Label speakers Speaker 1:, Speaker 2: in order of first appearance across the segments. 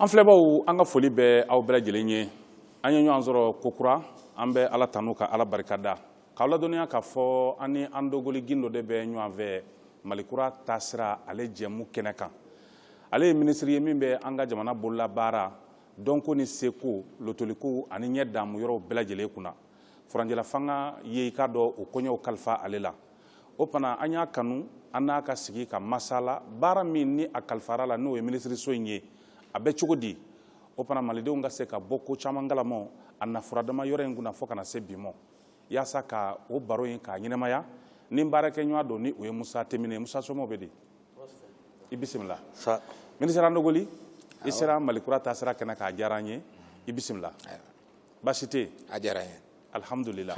Speaker 1: an filɛbaw an ka foli bɛ aw bɛɛ lajɛlen ye an ye ɲɔgɔn sɔrɔ kokura an bɛ ala tanu ka ala barikada k'aw ladɔnniya k'a fɔ an ni andogoli gindo de bɛ ɲɔgɔn fɛ malikura taasira ale jɛmu kɛnɛ kan ale ye minisiri ye min bɛ an ka jamana bololabaara dɔnko ni seko lotoliko ani ɲɛdaamu yɔrɔw bɛɛ lajɛlen kunna furancɛlafanga ye i k'a dɔn o koɲɛw kalifa ale la o fana an y'a kanu an n'a ka sigi ka masala baara min ni a kalifara la n'o ye minisiriso in ye a bɛ cogo di o fana malidenw ka se ka bɔ ko caman kalama a na furadama yɔrɔ in kunna fo ka na se bi ma yaasa ka o baro in k'a ɲɛnamaya ni baarakɛɲɔgɔn don ni o ye musa temine musa somɔgɔw bɛ di i bisimila minisiri andogoli i sera malikura taasira kɛnɛ kan a diyara an ye i bisimila baasi tɛ a diyara an ye alihamdulila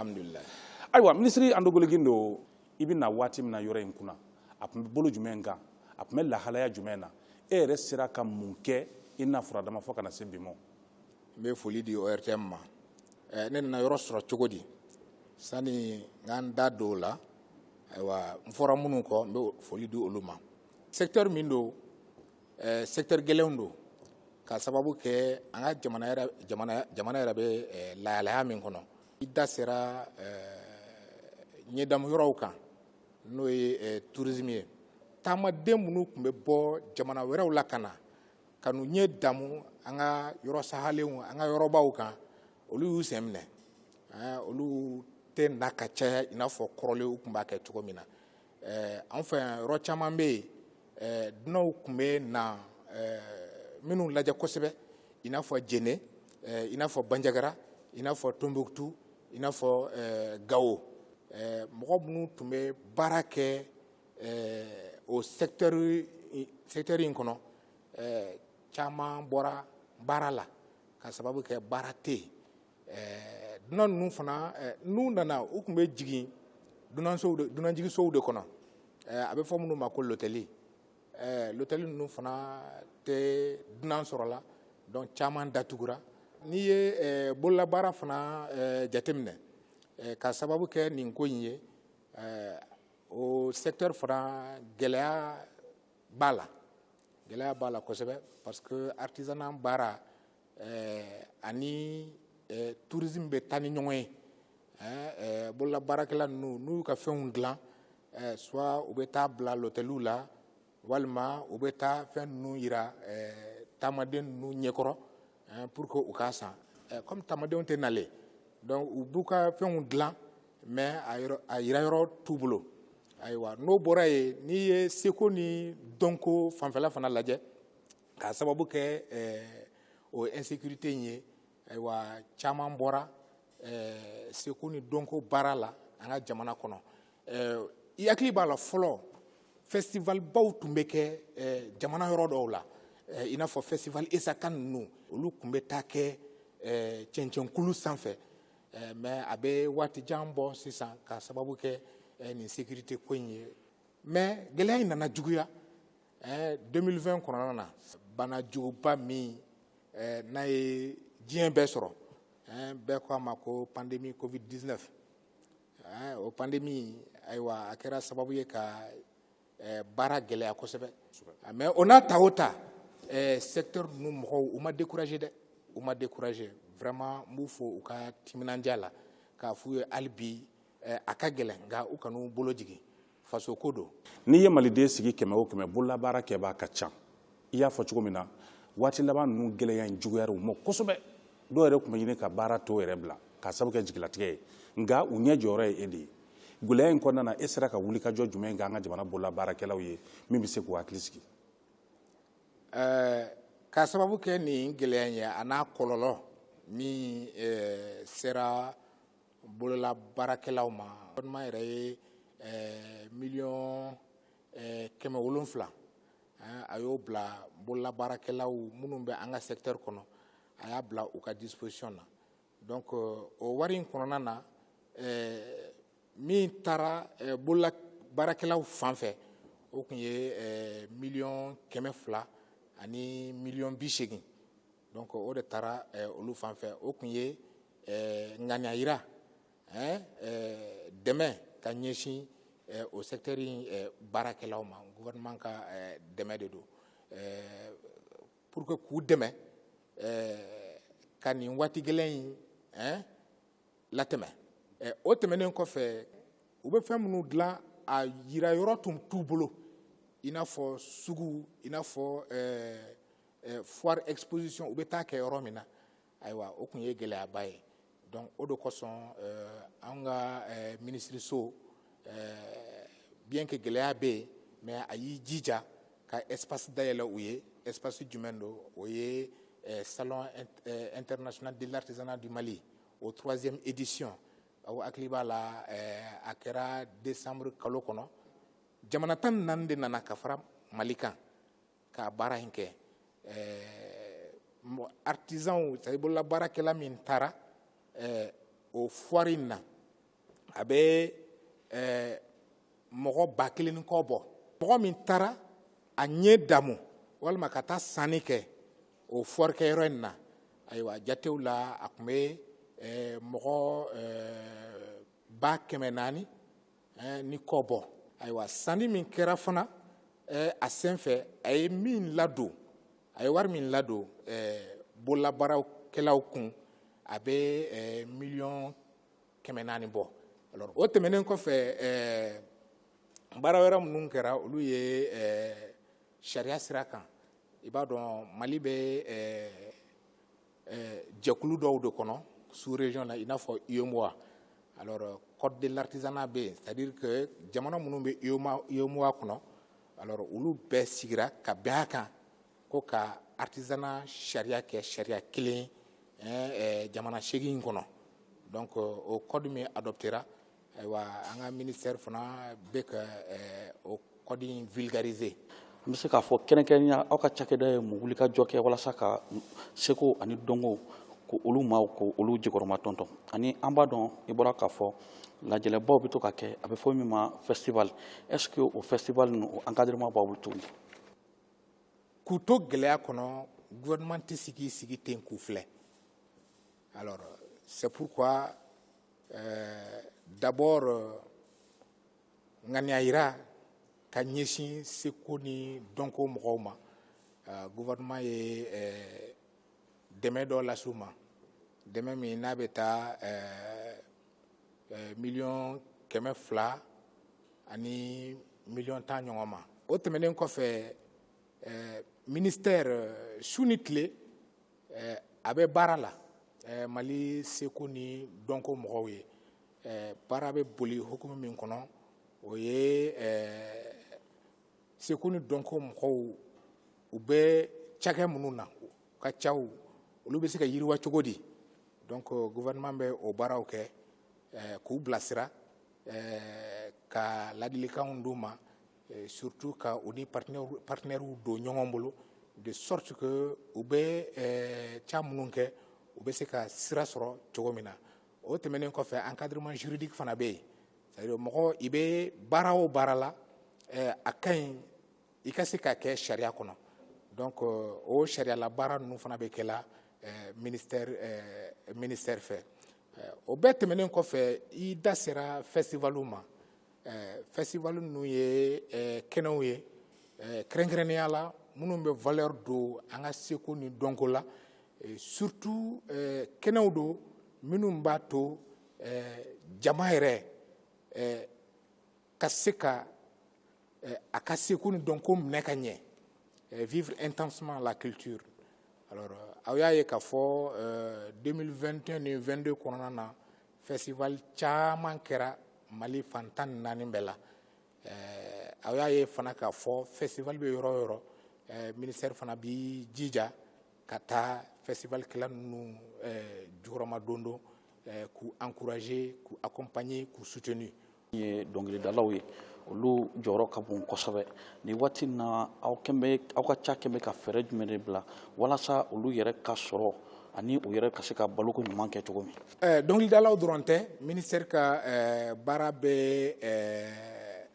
Speaker 1: ayiwa minisiri andogoli gindo i bɛ na waati min na yɔrɔ in kunna a tun bɛ bolo jumɛn kan a tun bɛ lahalaya jumɛn na e yɛrɛ sera ka mun kɛ i na furadama fo ka na se bi ma n bɛ
Speaker 2: foli di ORTM ma eh, ne nana yɔrɔ sɔrɔ cogo di sani n ka n da don o la ayiwa n fɔra minnu kɔ n bɛ foli di olu ma secteur min don eh, secteur gɛlɛnw don ka sababu kɛ an ka jamana yɛrɛ jamana jamana yɛrɛ bɛ eh, lahalaya min kɔnɔ i da sera eh, ɲɛdamu yɔrɔw kan n'o ye tourisme ye taamaden minnu tun bɛ bɔ jamana wɛrɛw la ka na ka n'u ɲɛ damu an ka yɔrɔ sahalenw an ka yɔrɔbaw kan olu y'u sen minɛ olu tɛ na ka caya i n'a fɔ kɔrɔlen u tun b'a kɛ cogo min na an fɛ yan yɔrɔ caman bɛ yen dunanw tun bɛ na minnu lajɛ kosɛbɛ i n'a fɔ jɛnɛ i n'a fɔ banjagara i n'a fɔ tonbukutu i n'a fɔ gawo mɔgɔ minnu tun bɛ baara kɛ o secteur in kɔnɔ caman bɔra baara la ka sababu kɛ baara tɛ yen ɛɛ dunan ninnu fana ɛɛ n'u nana u tun bɛ jigin dunansow de dunanjigisow de kɔnɔ ɛɛ a bɛ fɔ minnu ma ko lotɛli ɛɛ lotɛli ninnu fana tɛ dunan sɔrɔla donc caman datugura n'i ye ɛɛ bololabaara fana ɛɛ jateminɛ ɛɛ ka sababu kɛ nin ko in ye ɛɛ o secteur fana gɛlɛya b'a la gɛlɛya b'a la kosɛbɛ parce que artisanat baara eh, ani eh, tourisme bɛ taa ni ɲɔgɔn ye eh, eh, bololabaarakɛla ninnu n'u y'u ka fɛnw dilan eh, soit u bɛ taa bila lɔtɛliw la walima u bɛ taa fɛn ninnu yira eh, taamaden ninnu ɲɛkɔrɔ pour que u k'a san kɔmi taamadenw tɛ nalen donc u b'u ka fɛnw dilan mais a yira yɔrɔ t'u bolo ayiwa n'o bɔra yen n'i ye seko ni dɔnko fanfɛla fana lajɛ k'a sababu kɛ o insécurité in ye ayiwa caman bɔra seko ni dɔnko baara la an ka jamana kɔnɔ i hakili b'a la fɔlɔ festivalbaw tun bɛ kɛ jamana yɔrɔ dɔw la i n'a fɔ festival Essakane ninnu olu tun bɛ taa kɛ cɛncɛnkulu sanfɛ mais a bɛ waati jan bɔ sisan k'a sababu kɛ nin sécurité ko in ye mais gɛlɛya in nana juguya 2020 kɔnɔna na bana juguba min n'a ye diɲɛ bɛɛ sɔrɔ bɛɛ ko a ma ko pandémie covid 19 eh, o pandémie ayiwa a kɛra sababu ye ka eh, baara gɛlɛya kosɛbɛ ah, mais o n'a ta o ta eh, secteur ninnu mɔgɔw u ma découragé dɛ u ma découragé vraiment n b'u fo u ka timinandiya la k'a f'u ye hali bi a ka gɛlɛn nka u kan'u bolo jigin faso ko don n'i ye maliden
Speaker 1: sigi kɛmɛ o kɛmɛ bololabaara kɛbaa ka ca i y'a fɔ cogo min na waati laban ninnu gɛlɛya in juguyara u ma kosɛbɛ dɔw yɛrɛ tun bɛ ɲini ka baara tɔ yɛrɛ bila k'a sabu kɛ jigilatigɛ ye nka u ɲɛ jɔyɔrɔ ye e de ye gɛlɛya in kɔnɔna na e sera ka wulikajɔ jumɛn kɛ an ka jamana bololabaarakɛlaw ye min bɛ se k'u hakili sigi eh,
Speaker 2: k'a sababu kɛ nin gɛlɛya in ye a n'a kɔlɔlɔ min eh, sera bolola baarakɛlaw ma gouvernement yɛrɛ ye eh, miliyɔn eh, kɛmɛ wolonfila eh, a y'o bila bolola baarakɛlaw minnu bɛ an ka sɛkitɛri kɔnɔ a y'a bila u ka disposition na donc o wari in kɔnɔna na min taara bolola baarakɛlaw fan fɛ o tun ye miliyɔn kɛmɛ fila ani miliyɔn bi seegin Donc o de taara olu fan fɛ o tun ye ŋaniya yira dɛmɛ ka ɲɛsin o sɛkitɛri in baarakɛlaw ma gouvernement ka dɛmɛ de don pour que k'u dɛmɛ ka nin waati gɛlɛn in latɛmɛ o tɛmɛnen kɔfɛ u bɛ fɛn minnu dilan a yira yɔrɔ tun t'u bolo i n'a fɔ sugu i n'a fɔ eh, foire exposition u bɛ taa kɛ yɔrɔ min na ayiwa o tun ye gɛlɛyaba ye donc o de kosɔn eh, an ka eh, minisiriso bien que gɛlɛya bɛ yen mais a y'i jija ka espace dayɛlɛ u ye espace jumɛn don o ye salon international de l'artisanat du mali o troisième édition aw hakili b'a la a kɛra décembre kalo kɔnɔ jamana tan ni naani de nana ka fara mali kan ka baara in kɛ artisanw c'est à dire bololabaarakɛla min taara o foire in na a bɛ mɔgɔ ba kelen ni kɔ bɔ mɔgɔ min taara a ɲɛ damu walima ka taa sanni kɛ o foire kɛyɔrɔ in na ayiwa jatew la a tun bɛ mɔgɔ ba kɛmɛ naani eh, ni kɔ bɔ ayiwa sanni min kɛra fana eh, a senfɛ a ye min ladon a ye wari min ladon eh, bololabaarakɛlaw kun a bɛ eh, miliyɔn kɛmɛ naani bɔ alors o tɛmɛnen kɔfɛ eh, baara wɛrɛ minnu kɛra olu ye eh, sariya sira kan i b'a dɔn mali bɛ eh, eh, jɛkulu dɔw de kɔnɔ sous région la i n'a fɔ UEMOA alors euh, code de l'artisanat bɛ yen c'est à dire que jamana minnu bɛ UEMOA kɔnɔ alors olu bɛɛ sigira ka bɛn a kan ko ka artisanat sariya kɛ sariya kelen eh, eh, jamana seegin kɔnɔ donc euh, o code min adoptera ayiwa an ka ministère fana bɛ ka o code in vulgariser n bɛ se k'a
Speaker 3: fɔ kɛrɛnkɛrɛnya aw ka cakɛda ye mun wuli ka jɔ kɛ walasa ka seko ani dɔnko ko olu maaw k'olu jukɔrɔma tɔntɔn ani an b'a dɔn i bɔra k'a fɔ lajɛlɛbaw bɛ to ka kɛ a bɛ fɔ min ma festival est ce que o festival ninnu o encadrement b'aw bolo
Speaker 2: tuguni k'u to gɛlɛya kɔnɔ gouvernement tɛ sigi sigi ten k'u filɛ alors c'est pourquoi d'abord ŋaniya yira ka ɲɛsin seko ni dɔnko mɔgɔw ma gouvernement ye dɛmɛ dɔ las'u ma dɛmɛ min n'a bɛ taa miliyɔn kɛmɛ fila ani miliyɔn tan ɲɔgɔn ma o tɛmɛnen kɔfɛ ministère su ni tile eh, a bɛ baara la eh, mali seko ni dɔnko mɔgɔw ye eh, baara bɛ boli hukumu min kɔnɔ o ye eh, seko ni dɔnko mɔgɔw u bɛ cakɛ minnu na u ka caw olu bɛ se ka yiriwa cogo di donc euh, gouvernement bɛ o baaraw kɛ eh, k'u bilasira eh, ka ladilikanw d'u ma Eh, surtout ka u ni partenaires don ɲɔgɔn bolo de sorte que u bɛ eh, ca minnu kɛ u bɛ se ka sira sɔrɔ cogo min na o tɛmɛnen kɔfɛ encadrement juridique fana bɛ yen c'est à dire mɔgɔ i bɛ baara o baara la eh, a ka ɲi i ka se ka kɛ sariya kɔnɔ donc o sariyala baara ninnu fana bɛ kɛ la ministère fɛ o bɛɛ tɛmɛnen kɔfɛ i da sera festival ma eh, festival ninnu ye eh, kɛnɛw ye eh, kɛrɛnkɛrɛnnenya la minnu bɛ valeur don an ka seko ni dɔnko la eh, surtout eh, kɛnɛw don minnu b'a to eh, jama yɛrɛ eh, ka se ka eh, a ka seko ni dɔnko minɛ ka ɲɛ eh, vivre intensément la culture alors euh, aw y'a ye k'a fɔ 2021 euh, ni 22 kɔnɔna na festival caman kɛra Mali fan tan ni naani bɛɛ la eh, aw y'a ye fana k'a fɔ festival bɛ yɔrɔ o yɔrɔ eh, ministɛri fana b'i jija ka taa festival kɛla ninnu eh, jukɔrɔmadondon k'u encourager k'u accompagner k'u soutenir ye
Speaker 3: dɔnkilidalaw ye olu jɔyɔrɔ ka bon kosɛbɛ nin waati na aw aw ka cakɛ bɛ ka fɛɛrɛ jumɛn de bila walasa olu yɛrɛ ka sɔrɔ ani u yɛrɛ ka se ka baloko ɲuman kɛ cogo min eh, dɔnkilidalaw dɔrɔn
Speaker 2: tɛ ministɛri ka eh, baara bɛ eh,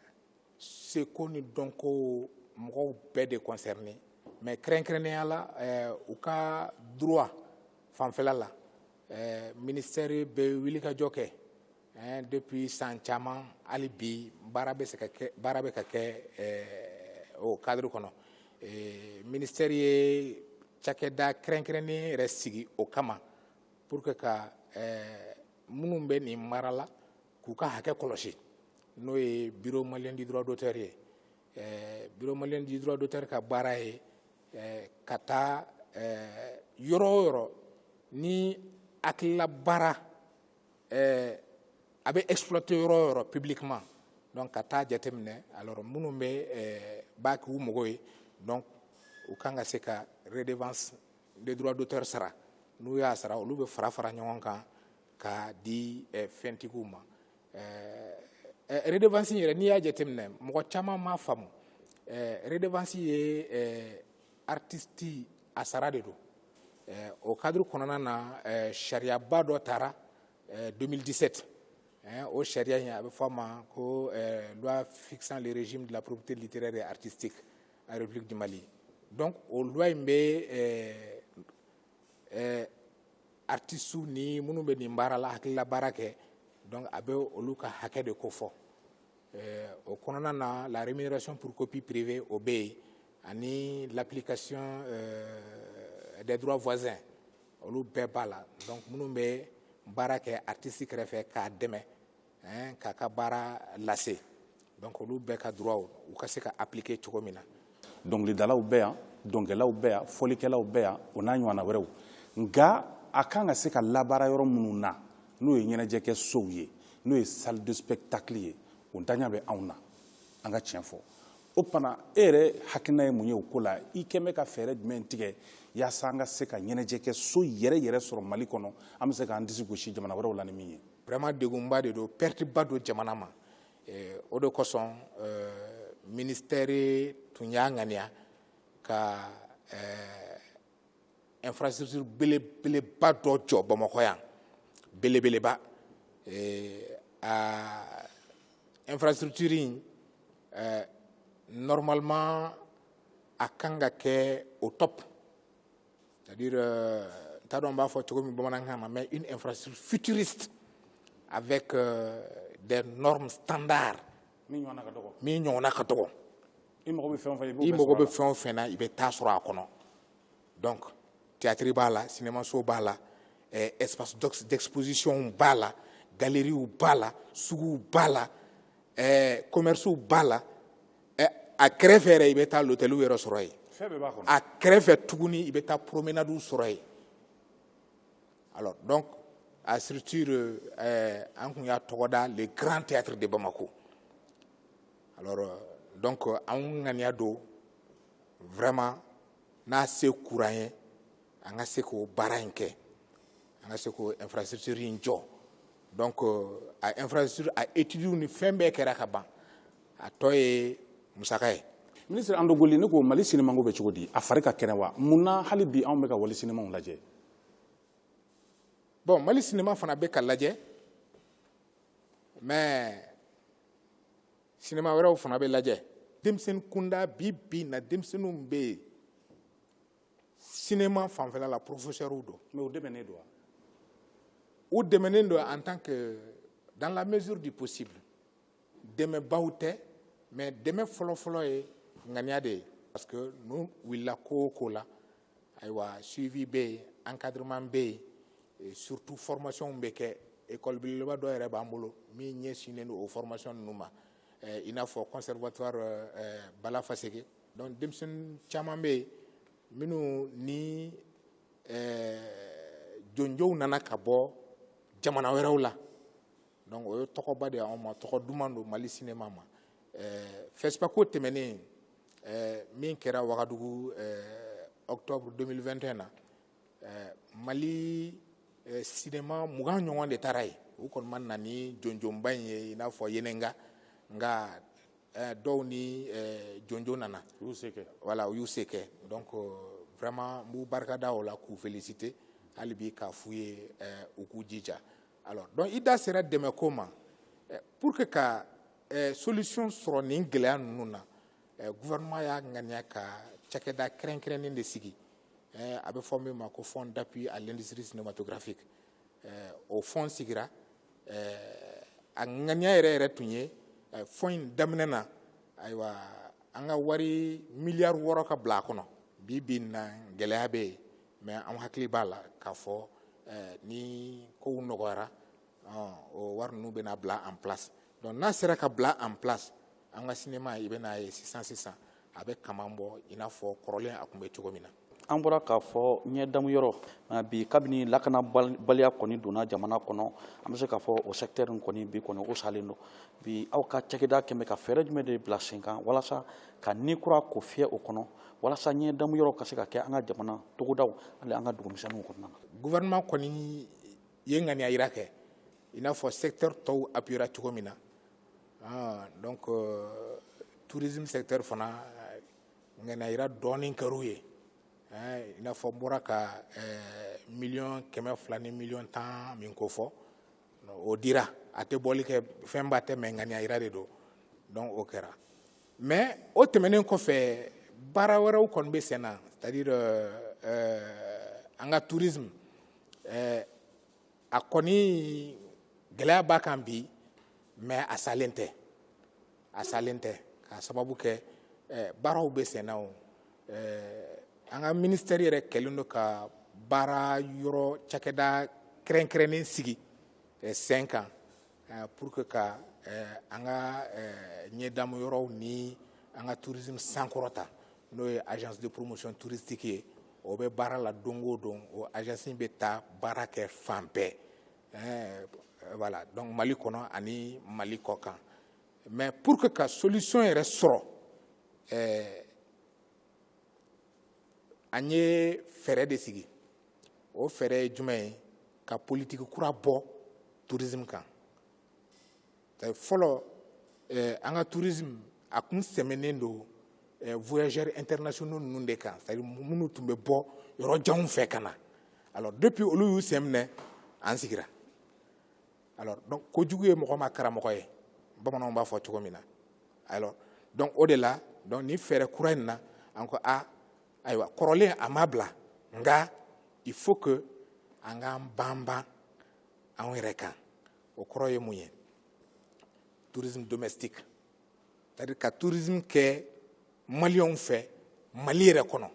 Speaker 2: seko ni dɔnko mɔgɔw bɛɛ de concerné mais kɛrɛnkɛrɛnnenya la u ka droit fanfɛla la ministɛri bɛ wilikajɔ kɛ depuis san caman hali bi baara bɛ se ka kɛ baara bɛ ka kɛ o cadre kɔnɔ ministère ye cakɛda kɛrɛnkɛrɛnnen yɛrɛ sigi o kama pour que ka minnu bɛ nin baara la k'u ka hakɛ kɔlɔsi n'o ye bureau malien du droit d'auteur ye bureau malien du droit d'auteur ka baara ye ka taa yɔrɔ o yɔrɔ ni hakilila baara ɛɛ a bɛ exploiter yɔrɔ o yɔrɔ publiquement donc ka taa jateminɛ alors minnu bɛ ɛɛ b'a k'u mago ye donc u kan ka se ka redevance des droits d'auteur sara n'u y'a sara olu bɛ fara fara ɲɔgɔn kan ka di ɛɛ fɛntigiw ma ɛɛ redevance yɛrɛ n'i y'a jateminɛ mɔgɔ caman m'a faamu ɛɛ redevance ye ɛɛ artiste a sara de don eh, o cadre kɔnɔna na eh, sariyaba dɔ tara 2017 eh, o sariya in a bɛ fɔ a ma ko loi fixant le régime de la propriété littéraire et artistique en république du mali donc o loi in bɛ artistew ni minnu bɛ nin baara la hakilila baara kɛ donc a bɛ olu ka hakɛ de kofɔ Eh, o kɔnɔna na la rémunération pour copie privée o bɛ yen ani l'application euh, des droits voisins olu bɛɛ b'a la donc minnu bɛ baara kɛ artiste kɛrɛfɛ k'a dɛmɛ hein, k'a ka baara lase donc olu bɛɛ ka droit u ka se ka appliquer cogo min na dɔnkilidalaw bɛ
Speaker 1: yan dɔnkɛlaw bɛ yan fɔlikɛlaw bɛ yan o n'a ɲɔgɔnna wɛrɛw nka a kan ka se ka labaara yɔrɔ minnu na n'o ye ɲɛnajɛkɛ sow ye n'o ye salle de spectacle ye o ntanya bɛ anw na an ka tiɲɛ fɔ o tuma e yɛrɛ hakilina ye mun ye o ko la i kɛn bɛ ka fɛɛrɛ jumɛn tigɛ yaasa an ka se ka ɲɛnajɛkɛ so yɛrɛ yɛrɛ sɔrɔ mali kɔnɔ an bɛ se k'an disi gosi jamana wɛrɛw la ni min ye vraiment degunba de don
Speaker 2: perte ba don jamana ma eh, o de kosɔn eh, ministɛri tun y'a ŋaniya ka eh, infrastructure belebeleba dɔ jɔ bamakɔ yan belebeleba a infrastructure in normalement a kan ka kɛ au top c'est à dire euh, n t'a dɔn n b'a fɔ cogo min bamanankan na mais une infrastructure futuriste avec euh, des normes standards min ɲɔgɔnna ka dɔgɔ i mago bɛ fɛn o fɛn na i bɛ taa sɔrɔ a kɔnɔ donc théâtre b'a la cinémaso b'a la eh, espace d'exposition b'a la galeries b'a la suguw b'a la eh, commerces b'a la ɛ a kɛrɛfɛ yɛrɛ i bɛ taa lotɛliw yɛrɛ sɔrɔ yen a kɛrɛfɛ tuguni i bɛ taa promenadiw sɔrɔ yen alors donc a structure euh, eh, an kun y'a tɔgɔ da le grand théâtre de Bamako alors euh, donc euh, an ŋaniya don vraiment n'a se kɛr'an ye an ka se k'o baara in kɛ an ka se k'o infrastructure in jɔ donc euh, a infrastructure a études ni fɛn bɛɛ kɛra ka ban a tɔ ye musaka ye ministre Andogoly ne
Speaker 1: ko mali sinimako bɛ cogo di a fari ka kɛnɛ wa mun na hali bi anw bɛ ka wali sinimaw
Speaker 2: lajɛ bon mali sinima fana bɛ ka lajɛ mais sinima wɛrɛw fana bɛ lajɛ denmisɛnnin kunda bi bi na denmisɛnninw bɛ yen sinema fanfɛla la porofesɛriw don mais u dɛmɛnen don wa u dɛmɛnen don en tant que dans la mesure du possible dɛmɛbaw tɛ mais dɛmɛ fɔlɔfɔlɔ ye ŋaniya de ye parce que n'u wulila ko o ko la ayiwa suivi bɛ yen encadrement bɛ yen et surtout formation bɛ kɛ école belebeleba dɔ yɛrɛ b'an bolo min ɲɛsinnen don o formation ninnu ma eh, i n'a fɔ conservatoire eh, bala faseke donc denmisɛnnin caman bɛ yen minnu ni jɔnjɔnw nana ka bɔ jamana wɛrɛw la donc o ye tɔgɔba de ye an ma tɔgɔ duman don mali sinima ma FESPACO tɛmɛnen min kɛra wagadugu octobre 2021 na mali sinima mugan ɲɔgɔn de taara yen u kɔni ma na ni jɔnjɔnba in ye i n'a fɔ Yenenga nka eh, dɔw ni eh, jɔnjɔn nana u y'u se kɛ voilà u y'u se kɛ donc euh, vraiment n b'u barikada o la k'u féliciter hali bi k'a f'u ye eh, u k'u jija alors donc i da sera dɛmɛko ma eh, pour que ka eh, solution sɔrɔ nin gɛlɛya ninnu na eh, gouvernement y'a ŋaniya ka cakɛda kɛrɛnkɛrɛnnen de sigi eh, a bɛ fɔ min ma ko fonds d'appui à l'industrie cinématographique eh, o fonds sigira eh, a ŋaniya yɛrɛ yɛrɛ tun ye eh, fonds in daminɛ na ayiwa an ka wari miliyari wɔɔrɔ ka bila a kɔnɔ bi bi na gɛlɛya bɛ yen mais an hakili b'a la k'a fɔ ni kow nɔgɔyara o wari ninnu bɛna bila en place donc n'a sera ka bila en place an ka sinima i bɛn'a ye sisan sisan a bɛ kaman bɔ i n'a fɔ kɔrɔlen a tun bɛ cogo min na an bɔra k'a fɔ
Speaker 3: ɲɛdamu yɔrɔ bi kabini lakanabaliya kɔni donna jamana kɔnɔ an bɛ se k'a fɔ o secteur kɔni bi kɔni o salen don bi aw ka cakɛda kɛmɛ ka fɛɛrɛ jumɛn de bila sen kan walasa ka ni kura ko fiyɛ o kɔnɔ walasa ɲɛdamu yɔrɔ ka se ka kɛ an ka jamana togodaw hali an ka dugu misɛnninw kɔnɔna na gouvernement kɔni
Speaker 2: i ye ŋaniya yira kɛ i n'a fɔ secteur tɔw appuyera cogo min na ah, donc euh, tourisme secteur fana ŋaniya yira dɔɔnin kɛr'u ye eh, i n'a fɔ n bɔra ka eh, miliyɔn kɛmɛ fila ni miliyɔn tan min ko fɔ o dira a tɛ bɔli kɛ fɛnba tɛ mais ŋaniya yira de don donc o kɛra mais o tɛmɛnen kɔfɛ baara wɛrɛw kɔni bɛ sen na c'est-à-dire euh, euh, an ka tourisme euh, a kɔni gɛlɛya b'a kan bi mais a salen tɛ a salen tɛ k'a sababu kɛ eh, baaraw bɛ sen na o eh, an ka ministɛri yɛrɛ kɛlen don ka baara yɔrɔ cakɛda kɛrɛnkɛrɛnnen sigi eh, sen kan eh, pour que ka eh, an ka eh, ɲɛdamu yɔrɔw ni an ka tourisme sankɔrɔta n'o ye agence de promotion touristique ye o bɛ baara la don o don o agence bɛ taa baara kɛ fan bɛɛ voilà donc mali kɔnɔ ani mali kɔkan mais pour que ka solution yɛrɛ sɔrɔ an ye fɛɛrɛ de sigi o fɛɛrɛ ye jumɛn ye ka politiki kura bɔ tourisme kan fɔlɔ eh, an ka tourisme a kun sɛmɛnen don eh, voyageurs internationaux ninnu de kan c'est-à-dire minnu tun bɛ bɔ yɔrɔ janw fɛ ka na alors depuis olu y'u sen minɛ an sigira alors donc kojugu ye mɔgɔ ma karamɔgɔ ye bamananw b'a fɔ cogo min na alors donc o de la donc ni fɛɛrɛ kura in na an ko a ah, ayiwa kɔrɔlen a ma bila nka il faut que an k'an banban anw yɛrɛ kan o kɔrɔ ye mun ye tourisme domestique c'est à dire ka tourisme kɛ maliyɛnw fɛ mali yɛrɛ kɔnɔ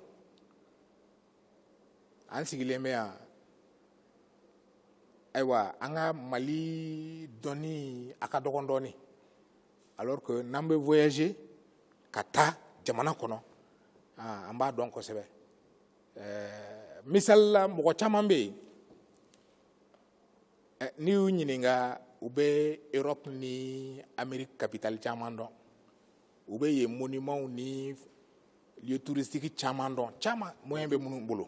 Speaker 2: an sigilen bɛ yan ayiwa an ka mali dɔnni a ka dɔgɔn dɔɔnin alors que n'an bɛ voyager ka taa jamana kɔnɔ ah, an b'a dɔn kosɛbɛ eh, misali la mɔgɔ caman bɛ yen eh, n'i y'u ɲininka u bɛ Europe ni Amérique capitale caman dɔn u bɛ yen monuments ni lieux touristiques caman dɔn caman moyen bɛ minnu bolo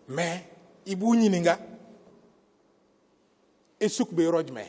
Speaker 2: mais i b'u ɲininka Essouk bɛ yɔrɔ jumɛn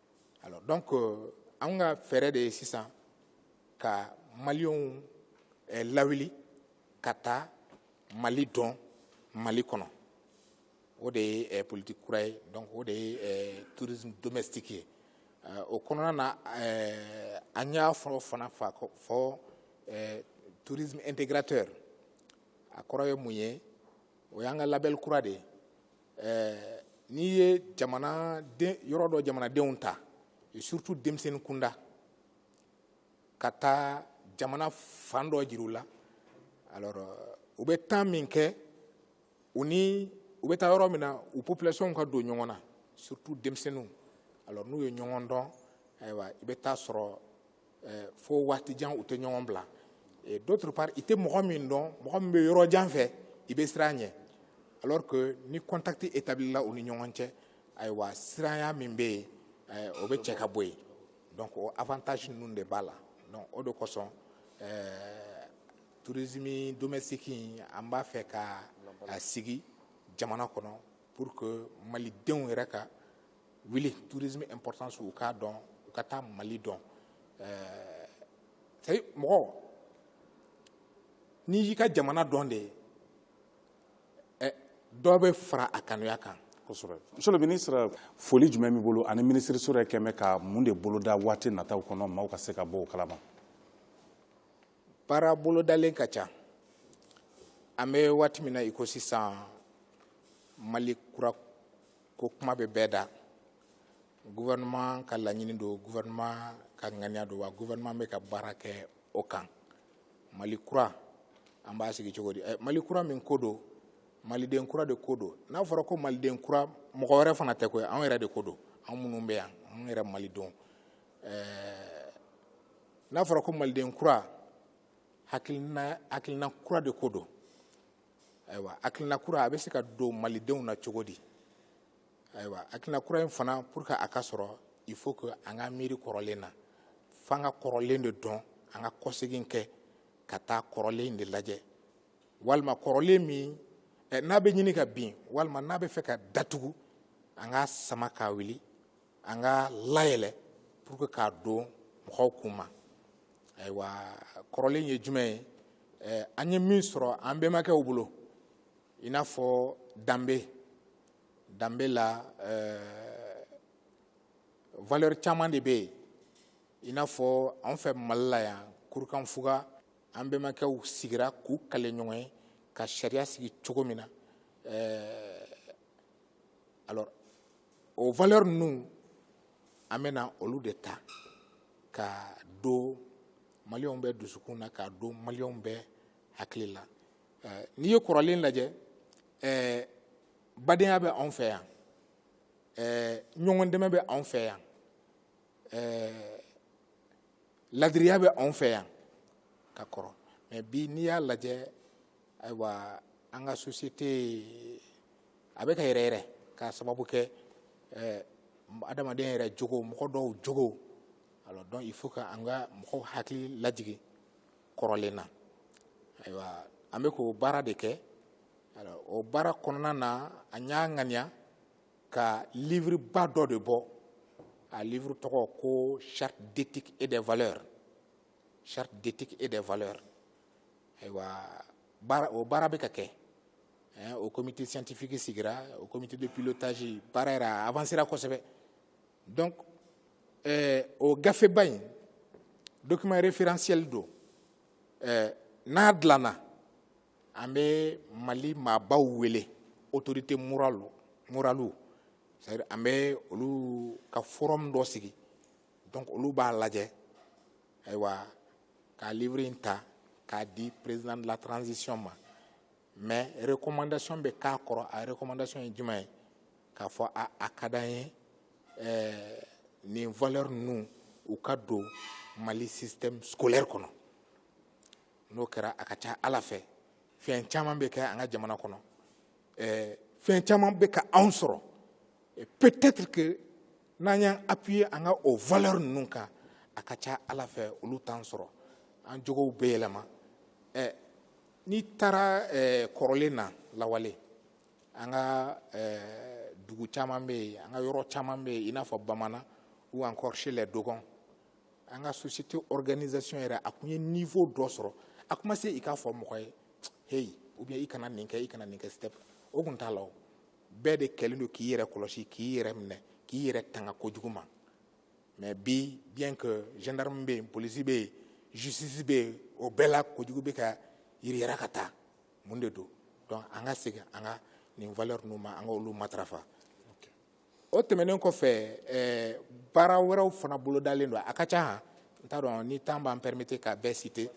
Speaker 2: alors donc euh, an ka fɛɛrɛ de ye sisan ka maliyɛnw eh, lawuli ka taa mali dɔn mali kɔnɔ o de ye eh, politique kura ye donc o de ye eh, tourisme domestique ye eh, o kɔnɔna na eh, an y'a fɔ fana fa fɔ eh, tourisme intégrateur a kɔrɔ ye mun ye o y'an ka label kura de ye ɛɛ n'i ye jamana yɔrɔ dɔ jamanadenw ta et surtout denmisɛnnin kunda ka taa jamana fan dɔ jira u la alors euh, u bɛ temps min kɛ u ni u bɛ taa yɔrɔ min na u population ka don ɲɔgɔn na surtout denmisɛnninw alors n'u ye ɲɔgɔn dɔn ayiwa i bɛ taa sɔrɔ eh, fo waati jan u tɛ ɲɔgɔn bila et d'autre part i tɛ mɔgɔ min dɔn mɔgɔ min bɛ yɔrɔ jan fɛ i bɛ siran ɲɛ alors que ni contact établila u ni ɲɔgɔn cɛ ayiwa siranya min bɛ yen eh, o bɛ cɛ ka bɔ yen donc o avantage ninnu de b'a la donc o de kosɔn eh, tourisme domestique in an b'a fɛ k'a sigi jamana kɔnɔ pour que malidenw yɛrɛ ka wuli tourisme importance u k'a dɔn u ka taa mali dɔn c'est mɔgɔ n'i y'i ka jamana dɔn de eh, dɔ bɛ fara a kanuya kan
Speaker 1: monsieur le ministre foli jumɛn b'i bolo ani minisiriso yɛrɛ kɛn bɛ ka mun de boloda waati nataw kɔnɔ maaw ka se ka bɔ o kalama baara
Speaker 2: bolodalen ka ca an bɛ waati min na i ko sisan mali kura ko kuma bɛ bɛɛ da gouvernement ka laɲini don gouvernement ka ŋaniya don wa gouvernement bɛ ka baara kɛ o kan mali kura an b'a sigi cogo di eh, mali kura min ko don maliden kura de ko don n'a fɔra ko maliden kura mɔgɔ wɛrɛ fana tɛ koyi anw yɛrɛ de ko don anw minnu bɛ yan anw yɛrɛ malidenw eh, n'a fɔra ko maliden kura hakilina kura de ko don ayiwa hakilina kura a bɛ se ka don malidenw na cogo di ayiwa hakilina kura in fana pour que a ka sɔrɔ il faut que an ka miiri kɔrɔlen na f'an ka kɔrɔlen de dɔn an ka kɔsegin kɛ ka taa kɔrɔlen de lajɛ walima kɔrɔlen min eh, n'a bɛ ɲini ka bin walima n'a bɛ fɛ ka datugu an k'a sama k'a wuli an k'a layɛlɛ pour que k'a don mɔgɔw kun ma ayiwa kɔrɔlen ye jumɛn ye eh, an ye min sɔrɔ an bɛnbakɛw bolo i n'a fɔ danbe danbe la eh, valeur caman de bɛ yen i n'a fɔ anw fɛ mali la yan kurukanfuga an bɛnbakɛw sigira k'u kale ɲɔgɔn ye ka sariya sigi cogo min na eh, alors o valeur ninnu an bɛna olu de ta ka don maliyɛnw bɛɛ dusukun na ka don maliyɛnw bɛɛ hakili la eh, n'i ye kɔrɔlen lajɛ eh, badenya bɛ anw fɛ yan eh, ɲɔgɔn dɛmɛ bɛ anw fɛ yan ladiriya bɛ anw fɛ yan ka kɔrɔ mais bi n'i y'a lajɛ ayiwa an ka société a bɛ ka yɛrɛyɛrɛ k'a sababu kɛ adamaden yɛrɛ jogo mɔgɔ dɔw jogo a donc il faut que an ka mɔgɔw hakili lajigi kɔrɔlen na ayiwa an bɛ k'o baara de kɛ o baara kɔnɔna na an y'a ŋaniya ka livre ba dɔ de bɔ a livre tɔgɔ ko charte d'éthique et des valeurs charte d'éthique et des valeurs ayiwa o baara bɛ ka kɛ o comité scientifique sigira o comité de pilotage baara yɛrɛ a avancera kosɛbɛ donc o gafeba in document référentiel don n'a dilanna an bɛ mali maabaw wele autorité moraliw c'est à dire an bɛ olu ka forum dɔ sigi donc olu b'a lajɛ ayiwa ka livre in ta k'a di président de la transition ma mais recommandation bɛ k'a kɔrɔ a recommandation ye jumɛn ye k'a fɔ a a ka d'an ye eh, nin valeur ninnu u ka don mali système scolaire kɔnɔ n'o kɛra a ka ca ala fɛ fɛn caman bɛ kɛ an ka jamana kɔnɔ eh, fɛn caman bɛ ka anw sɔrɔ eh, peut-être que n'an y'an appuyer an ka o valeur ninnu kan a ka ca ala fɛ olu t'an sɔrɔ an jogow bɛ yɛlɛma eh, n'i taara eh, kɔrɔlen na lawale an ka eh, dugu caman bɛ yen an ka yɔrɔ caman bɛ yen i n'a fɔ bamanan ou encore chez les dogons an ka société organisation yɛrɛ a tun ye niveau dɔ sɔrɔ a tun ma se i k'a fɔ mɔgɔ ye hey ou bien i kana nin kɛ i kana nin kɛ step o tun t'a la o bɛɛ de kɛlen don k'i yɛrɛ kɔlɔsi k'i yɛrɛ minɛ k'i yɛrɛ tanga kojugu ma mais bi bien que gendarme bɛ yen polisi bɛ yen justice bɛ yen o bɛɛ la kojugu bɛ ka yiriyara ka taa mun de don donc an ka segin an ka nin valeur ninnu ma an ka olu matarafa o tɛmɛnen kɔfɛ ɛɛ baara wɛrɛw fana bolodalen don a ka ca han n t'a dɔn ni temps b'an permettre ka bɛɛ citer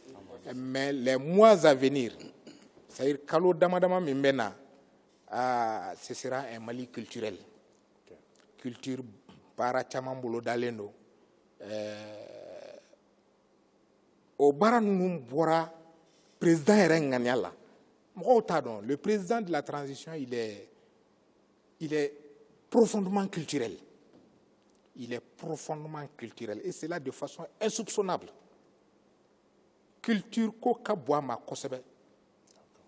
Speaker 2: mais les mois à venir c'est à dire kalo dama dama min bɛ na aa ce sera un Mali culturel culture baara caman bolodalen don ɛɛ o baara ninnu bɔra président yɛrɛ ŋaniya la mɔgɔw t'a dɔn le président de la transition il est Il est profondément culturel. Il est profondément culturel. Et cela de façon insoupçonnable. Culture ko ka bon a ma kosɛbɛ.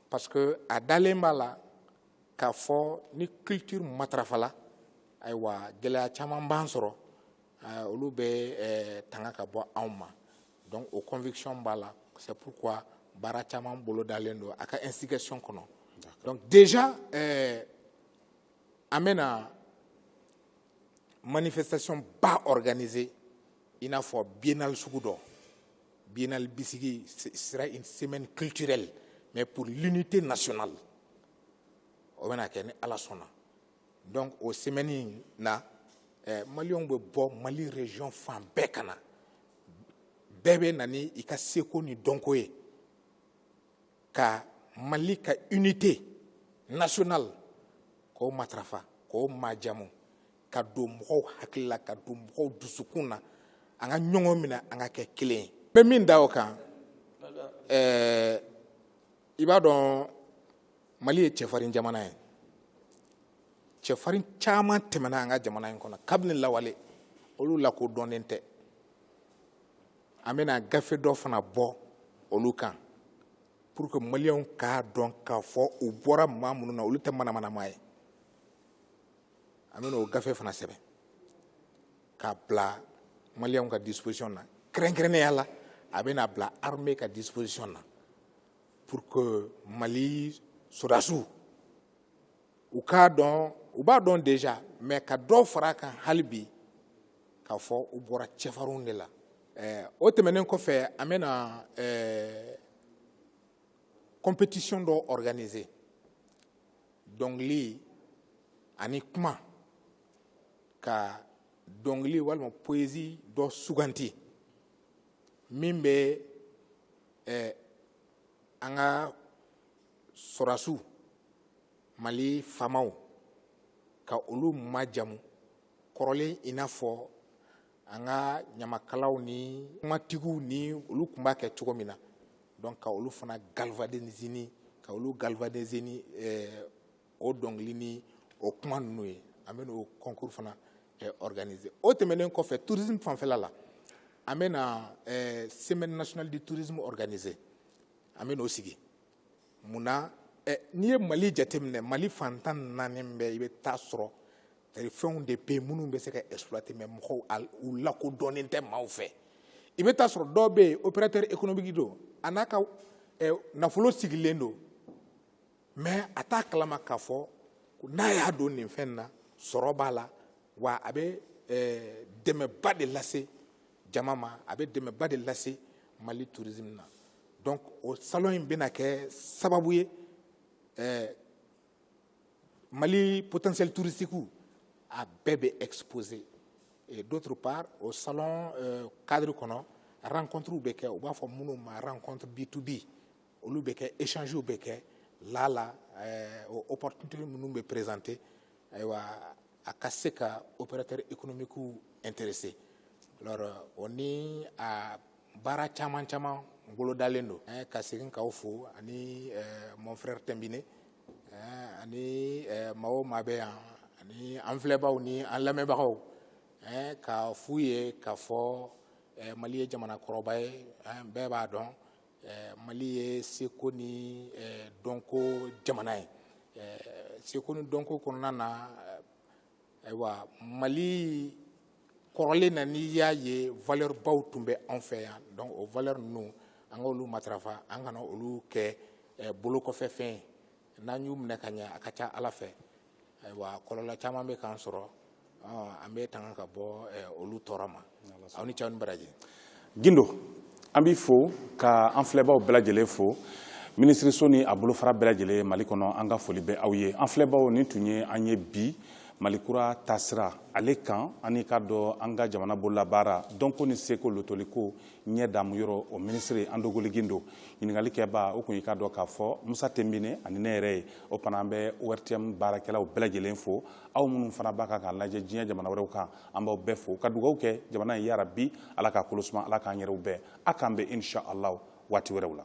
Speaker 2: Parce que a dalen b'a la, k'a fɔ ni culture matarafala, ayiwa gɛlɛya caman b'an sɔrɔ olu bɛ tanga ka bɔ anw ma donc o conviction b'a la c'est pourquoi baara caman bolodalen don a ka instigation kɔnɔ donc déjà euh, an bɛna manifestation ba organiser i n'a fɔ biennale sugu dɔ biennale bisigi sera une semaine culturelle mais pour l'unité nationale o bɛna kɛ ni ala sɔnna donc o semɛni na eh, maliyɛnw bɛ bɔ mali region fan bɛɛ ka na bɛɛ bɛ na ni i ka seko ni dɔnko ye ka mali ka unité nationale k'o matarafa k'o majamu ka don mɔgɔw hakili la ka don mɔgɔw dusukun na an ka ɲɔgɔn minɛ an ka kɛ kelen ye n bɛ min da o kan eh, i b'a dɔn mali ye cɛfarin jamana ye cɛfarin caman tɛmɛna an ka jamana in kɔnɔ kabini lawale olu lakodɔnnen tɛ an bɛna gafe dɔ fana bɔ olu kan pour que maliyɛnw k'a dɔn k'a fɔ u bɔra maa minnu na olu tɛ manamana maa ye an bɛna o gafe fana sɛbɛn k'a bila maliyɛnw ka disposition na kɛrɛnkɛrɛnnenya la a bɛna bila armée ka disposition na pour que Mali sɔrɔdasiw u k'a dɔn u b'a dɔn déjà mais ka dɔ fara a kan hali bi k'a fɔ u bɔra cɛfarinw de la eh, o tɛmɛnen kɔfɛ an bɛna eh, compétition dɔ organiser dɔnkili ani kuma ka dɔnkili walima poésie dɔ suganti min bɛ eh, an ka sɔrɔdasiw mali faamaw ka olu majamu kɔrɔlen i n'a fɔ an ka ɲamakalaw ni kumatigiw ni olu tun b'a kɛ cogo min na donc ka olu fana galvaniser ni ka olu galvaniser ni eh, o dɔnkili ni o kuma ninnu ye an bɛna o concours fana eh, organiser o tɛmɛnen kɔfɛ tourisme fanfɛla la an bɛna eh, semaine nationale du tourisme organiser an bɛn'o sigi mun na eh, n'i ye mali jateminɛ mali fan tan ni naani bɛɛ i bɛ taa sɔrɔ c'est-à-dire fɛnw de bɛ yen minnu bɛ se ka exploiter mais mɔgɔw a u lakodɔnnen tɛ maaw fɛ i bɛ taa sɔrɔ dɔw bɛ yen opérateur économique don a n'a ka eh, nafolo sigilen don mais a t'a kalama k'a fɔ n'a y'a don nin fɛn na sɔrɔ b'a la wa a bɛ eh, dɛmɛba de lase jama ma a bɛ dɛmɛba de lase mali tourisme na donc o salon in bɛna kɛ sababu ye eh, mali potentiel touristiquew a bɛɛ bɛ exposer et d'autre part o salon euh, cadre kɔnɔ rencontrew bɛ kɛ u b'a fɔ minnu ma rencontre b2b olu bɛ kɛ échangew bɛ kɛ laala ɛɛ o opportunité minnu bɛ présenter ayiwa a ka se ka opérateur économiquew intéresser alors o ni a baara caman caman bolodalen don ɛɛ ka segin k'aw fo ani ɛɛ mon frère Tɛnbine ɛɛ ani ɛɛ maa o maa bɛ yan ani an filɛbaaw ni an lamɛnbagaw ɛɛ k'a f'u ye k'a fɔ ɛɛ Mali ye jamana kɔrɔba ye ɛɛ bɛɛ b'a dɔn. mali ye seko ni dɔnko jamana ye seko ni dɔnko kɔnɔna na ayiwa mali kɔrɔlen na n'i y'a ye valeur baw tun bɛ anw fɛ yan donc o valeur ninnu an ka olu matarafa an kana olu kɛ bolo kɔfɛ fɛn ye n'an y'u minɛ ka ɲɛ a ka ca ala fɛ ayiwa kɔlɔlɔ caman bɛ k'an sɔrɔ an bɛ tanga ka bɔ olu tɔɔrɔ ma aw ni ce aw ni baraji gindo
Speaker 1: an b'i fo ka an filɛbaw bɛɛ lajɛlen fo minisiriso ni a bolofara bɛɛ lajɛlen mali kɔnɔ an ka foli bɛ aw ye an filɛbaw nin tun ye an ye bi malikura taasira ale kan ani ka dɔn an ka jamana bololabaara dɔnko ni seko lotoliko ɲɛ damu yɔrɔ o minisiri andogoli gindo ɲininkali kɛba o kun i k'a dɔn k'a fɔ musa tenbine ani ne yɛrɛ ye o fana an bɛ ortm baarakɛlaw bɛɛ lajɛlen fo aw minnu fana b'a kan k'a lajɛ diɲɛ jamana wɛrɛw kan an b'aw bɛɛ fo ka dugawu kɛ jamana ye yarabi ala k'a kolosuma ala k'an yɛrɛw bɛn a k'an bɛn inshallah waati wɛrɛw la